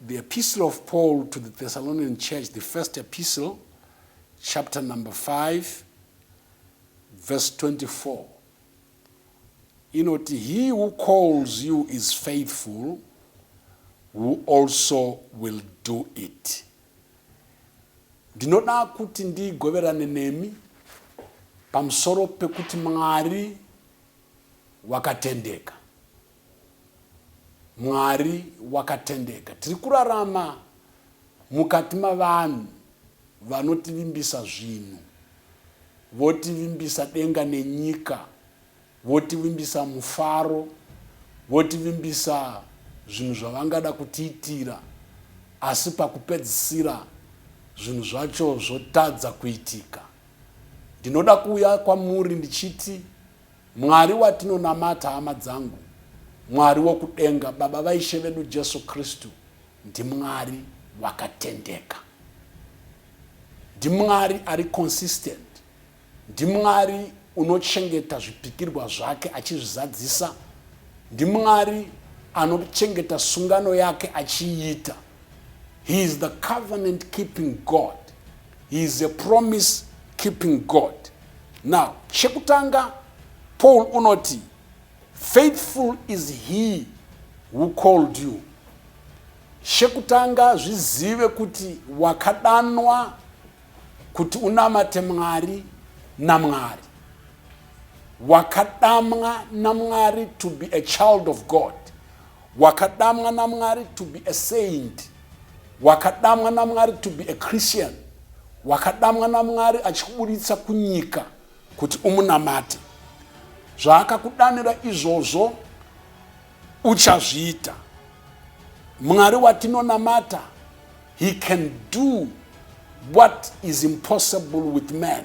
The Epistle of Paul to the Thessalonian Church, the first epistle, chapter number 5, verse 24. Inoti, He who calls you is faithful, who also will do it. Ndinoda kuti ndigoverane nemi pamusoro pekuti Mwari wakatendeka. Mwari wakatendeka. Tiri kurarama mukati mavanhu vanotivimbisa zvinhu, votivimbisa denga nenyika, votivimbisa mufaro, votivimbisa zvinhu zvavangada kutiitira, asi pakupedzisira zvinhu zvacho zvotadza kuitika. Ndinoda kuuya kwamuri ndichiti Mwari watinonamata hama dzangu Mwari wokudenga baba vaishe vedu Jesu Kristu ndiMwari vakatendeka. NdiMwari ari consistent. NdiMwari unochengeta zvipikirwa zvake achizvizadzisa. NdiMwari anochengeta sungano yake achiiita. He is the covenant keeping God. He is a promise keeping God. Now, chekutanga Paul unoti faithful is he who called you. Chekutanga zvizive kuti wakadanwa kuti unamate Mwari naMwari. Wakadamwa naMwari to be a child of God. Wakadamwa naMwari to be a saint. Wakadamwa naMwari to be a Christian. Wakadamwa naMwari achikuburitsa kunyika kuti umunamate. Zvaakakudanira izvozvo uchazviita. Mwari watinonamata he can do what is impossible with man.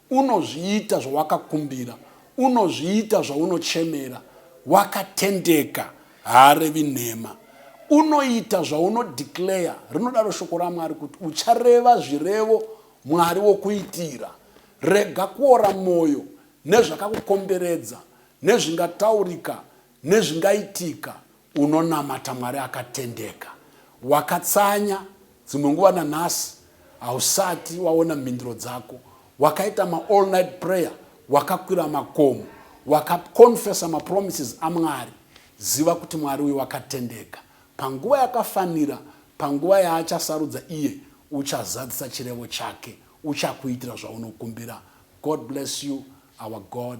Unozviita zvawakakumbira. Unozviita zvaunochemera. Wakatendeka. Haarevi nhema. Unoita zvauno declare. Rinodaro shoko raMwari kuti uchareva zvirevo Mwari wokuitira. Rega kuora moyo nezvakakukomberedza, nezvingataurika, nezvingaitika. Unonamata Mwari akatendeka. Wakatsanya dzimwe nguva nanhasi hausati waona mhinduro dzako. Wakaita ma all night prayer, wakakwira makomo, wakaconfessa mapromises aMwari. Ziva kuti Mwari uyu wakatendeka. Panguva yakafanira, panguva yaachasarudza iye, uchazadzisa chirevo chake. Uchakuitira zvaunokumbira. God bless you. Our God